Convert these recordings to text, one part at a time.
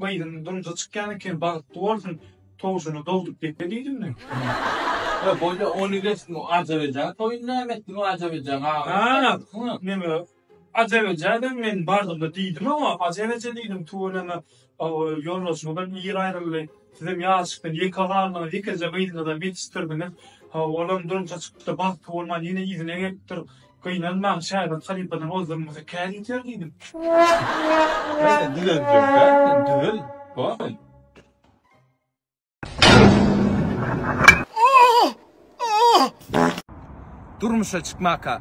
Gyzynyň durmuşa çykýan ekeni bagtly bolsun towşyny dogdup gepe diýdim men. He bolýa ony geç bu ajap ejä toýuny näme etdiň o ajap ejäň agasyny. Neme ajap ejä de men bardymda diýdim oňa ajap eje diýdim tuweleme ýoldaşyňyzam ir aýryldy sizem ýaşykdan ýeke galdyňyz ýekeje gyzyňyzam ýetişdirdiňiz olam durmuşa çykypdyr bagtly bolman ýene yzyna gelipdir. Gynanmaň, şägirt halypadan ozal durmasa kär ýeter diýdim. Ýa sen düzeljek däl, sen düzel, hoý. Durmuşa çykmaka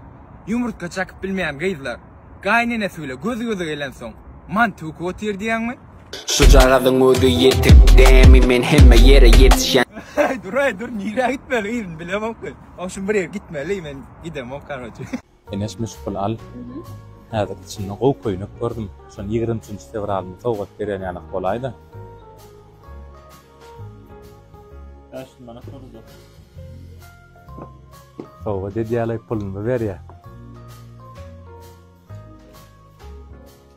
ýumurtga çakyp bilmeýän gyzlar gaýynenesi bile göz göze gelensoň mant öwküp otyr diýýäňmi? Şujagazyň özi ýetik dämi men hemme ýere ýetişen. Aý dur aý dur nirä gitmeli yzyn bilemokmy. Ogşum bir ýere gitmeli men gidemok karoçe. Eneş müşgul al häzir içinde gowy köýnek gördüm şony ýigrimi üçünji fewralyma sowgat berýän ýalak bolaýda. Bäş ýüz manat bolajak. Sowgat edýälaý puluny berýä.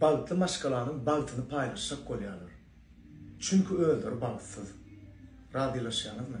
Bagtly maşgalanyň bagtyny paýlaşjak bolýarlar. Çünki özleri bagtsyz. Razylaşýaňyzmy?